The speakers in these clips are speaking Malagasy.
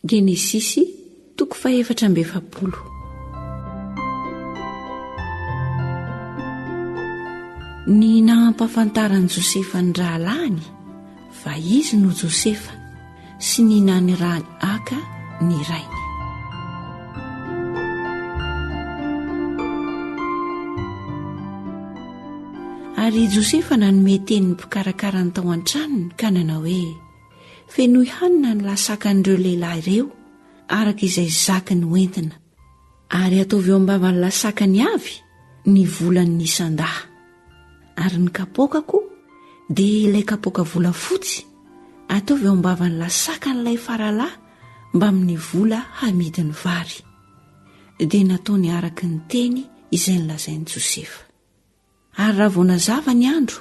Genesisy, toko fahefatra amby efapolo. Ny nahampafantaran'i Josefa ny rahalahiny fa izy no Josefa sy ny nanirahany haka ny rainy. Ary Josefa nanome teny ny mpikarakara ny tao an-tranony ka nanao hoe Fenoy hanina ny lasakan'ireo lehilahy ireo, araka izay zaky ny hoentina, ary ataovy eo am-bavan'ny lasakany avy ny volan'ny isan-dahy. Ary ny kapoakako dia ilay kapoaka volafotsy, ataovy eo am-bavan'ny lasakan'ilay faralahy mbamin'ny vola hamidy ny vary. Dia nataony araka ny teny izay nolazain'i Josefa. Ary raha vao nazava ny andro,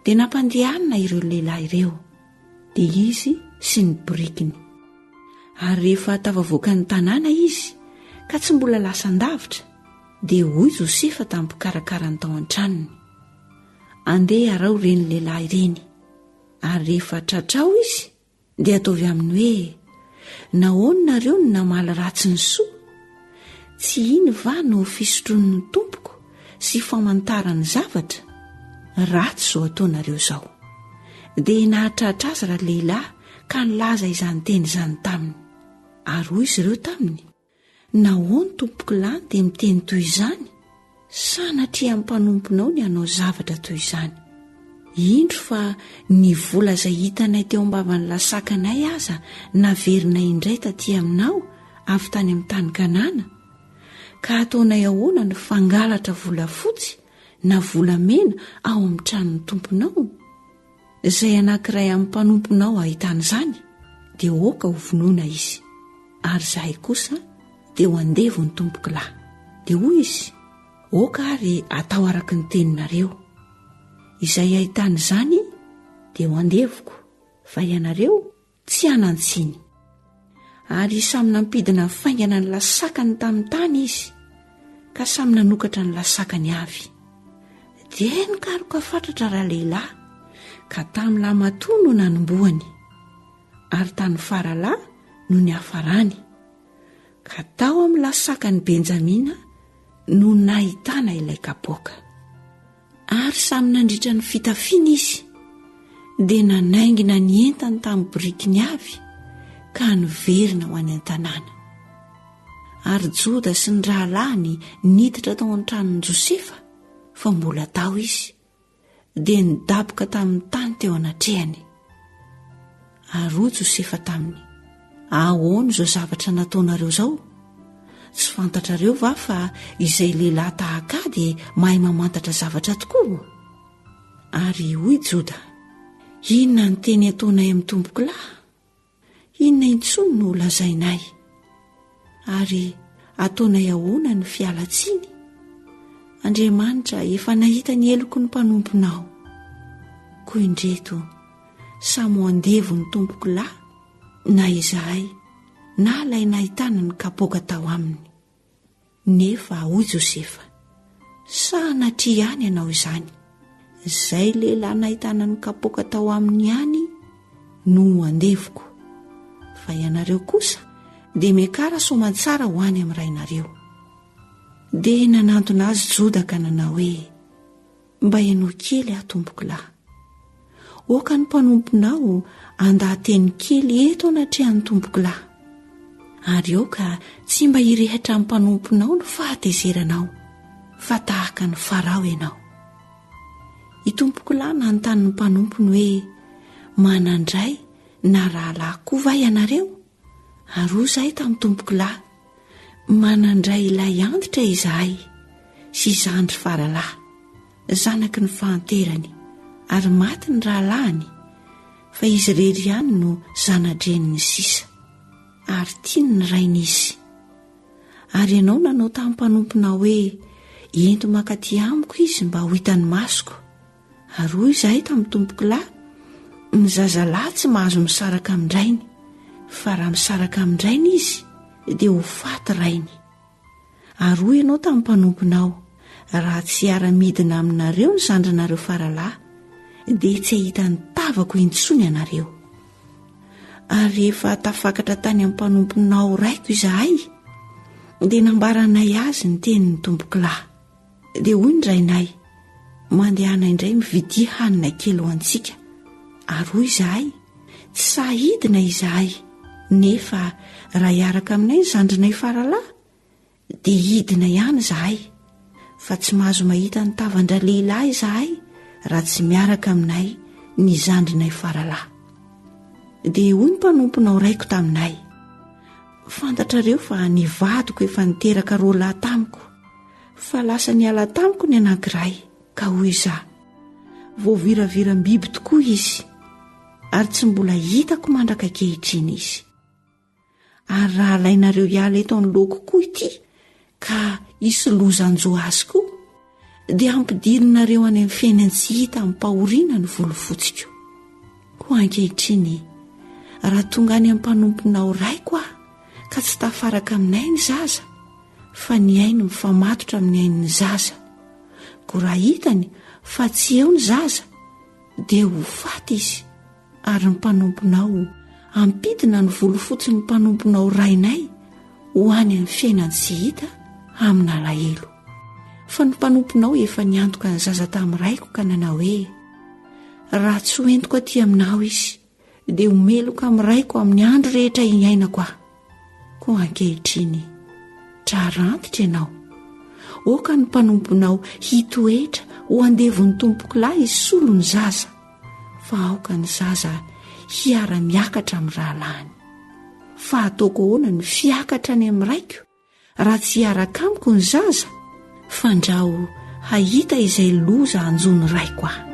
dia nampandehanina ireo lehilahy ireo, dia izy sy ny borikiny. Ary rehefa tafavoaka ny tanàna izy, ka tsy mbola lasan-davitra, dia hoy Josefa tamin'ny mpikarakara ny tao an-tranony, Andeha araho ireny lehilahy ireny, ary rehefa tratrao izy, Dia ataovy aminy hoe, Nahoana nareo no namaly ratsy ny soa? Tsy iny va no fisotroan'ny tompoko sy famantarany zavatra? Ratsy izao ataonareo izao. Dia nahatratra azy ra-lehilahy ka nilaza izany teny izany taminy. Ary hoy izy ireo taminy, Nahoany tompoko lahy dia miteny toy izany? Sanatria mpanomponao ny hanao zavatra toy izany. Indro fa ny vola izay hitanay teo am-bavan'ny lasakanay aza naverinay indray taty aminao avy tany amin'ny tany Kanana. Ka hataonay ahoana ny fangalatra volafotsy na volamena ao amin'ny tranon'ny tomponao? Izay anankiray amin'ny mpanomponao hahita an'izany, dia hoaka ho vonoina izy. Ary izahay kosa dia ho andevo ny tompoko lahy. Dia hoy izy, Oka ary atao araka ny teninareo. Izay hahita an'izany, dia ho andevoko, fa ianareo Tsy hanan-tsiny. Ary samy nampidina faingana ny lasakany tamin'ny tany izy, ka samy nanokatra ny lasakany avy. Dia nikaroka fatratra ralehilahy, ka tamin'ny lahimatoa no nanombohany, ary tany faralahy no niafarany, ka tao amin'ny lasakan'i Benjamina no nahitana ilay kapoaka. Ary samy nandritra ny fitafiana izy, dia nanaingina ny entany tamin'ny birikiny avy ka niverina ho any an-tanàna. Ary Joda sy ny rahalahiny niditra tao an-tranon'i Josefa, fa mbola tao izy, dia nidaboka tamin'ny tany teo anatrehany. Ary hoy Josefa taminy, Ahoana izao zavatra nataonareo izao? Tsy fantatrareo va fa izay lehilahy tahaka ahy dia mahay mamantatra zavatra tokoa? Ary hoy Joda, Inona ny teny ataonay amin'ny tompokolahy? Inona intsony no holazainay? Ary ataonay ahoana ny fialan-tsiny? Andriamanitra efa nahita ny heloky ny mpanomponao. Koa indreto, samy ho andevo ny tompoko lahy, na izahay, na ilay nahitana ny kapoaka tao aminy. Nefa, hoy Josefa, sahanatria ihany ianao izany. Izay lehilahy nahitana ny kapoaka tao aminy ihany no andevoko. Fa ianareo kosa dia miakara soamantsara ho any amin'ny rainareo. Dia nanantona azy Joda ka nanao hoe, Mba henoy kely aho, tompoko lahy. Oka ny mpanomponao andaha-teny kely eto anatrehan'ny tompokolahy. Ary oka tsy mba hirehitra amin'ny mpanomponao ny fahatezeranao, fa tahaka ny Farao ianao. I tompokolahy nanontany ny mpanompony hoe, Manandray na rahalahy koa va ianareo? Ary hoy izahay tamin'ny tompoko lahy, Manandray ilay antitra izahay sy zandry faralahy, zanaky ny fahanterany, ary maty ny rahalahiny, fa izy irery ihany no zana-dreniny sisa. Ary tiany ny rainy izy. Ary ianao nanao tamin'ny mpanomponao hoe, Ento mankaty amiko izy mba ho hitan'ny masoko. Ary hoy izahay tamin'ny tompoko lahy, Ny zazalahy tsy mahazo misaraka amin-drainy, fa raha misaraka amin-drainy izy, dia ho faty rainy. Ary hoy ianao tamin'ny mpanomponao, Raha tsy hiara-midina aminareo ny zandrinareo faralahy, dia tsy hahita ny tavako intsony ianareo. Ary rehefa tafakatra tany amin'ny mpanomponao raiko izahay, dia nambaranay azy ny tenin'ny tompoko lahy. Dia hoy ny rainay, Mandehana indray mividia hanina kely ho antsika. Ary hoy izahay, Tsy sahy hidina izahay, nefa raha hiaraka aminay ny zandrinay faralahy, dia hidina ihany izahay. Fa tsy mahazo mahita ny tavan-dralehilahy izahay raha tsy miaraka aminay ny zandrinay faralahy. Dia hoy ny mpanomponao raiko taminay, Fantatrareo fa ny vadiko efa niteraka roa lahy tamiko. fa lasa niala tamiko ny anankiray ka hoy izaho voaviraviram-biby tokoa izy ary tsy mbola hitako mandraka kehitriny izy ary raha alainareo hiala eto any loako koa ity ka hisy loza anjo azy koa dia hampidirinareo any amin'ny fiainany tsy hita amim-pahoriana ny volofotsiko ho ankehitriny raha tonga any amin'ny mpanomponao raiko aho ka tsy tafaraka aminay ny zaza fa ny ainy mifamatotra amin'ny ain'ny zaza. Koa raha hitany fa tsy eo ny zaza, dia ho faty izy. Ary ny mpanomponao ampidina ny volofotsin'ny mpanomponao rainay ho any amin'ny fiainany tsy hita amin'alahelo. Fa ny mpanomponao efa niantoka ny zaza tamin'ny raiko ka nanao hoe, Raha tsy hoentiko aty aminao izy, dia ho meloka amin'ny raiko amin'ny andro rehetra hiainako aho koa ankehitriny trarantitra ianao oka ny mpanomponao hitoetra ho andevon'ny tompoko lahy hisolo ny zaza fa aoka ny zaza hiara-miakatra amin'ny rahalahiny fa hataoko ahoana ny fiakatra any amin'ny raiko Raha tsy hiaraka amiko ny zaza, fandrao hahita izay loza hanjo ny raiko aho.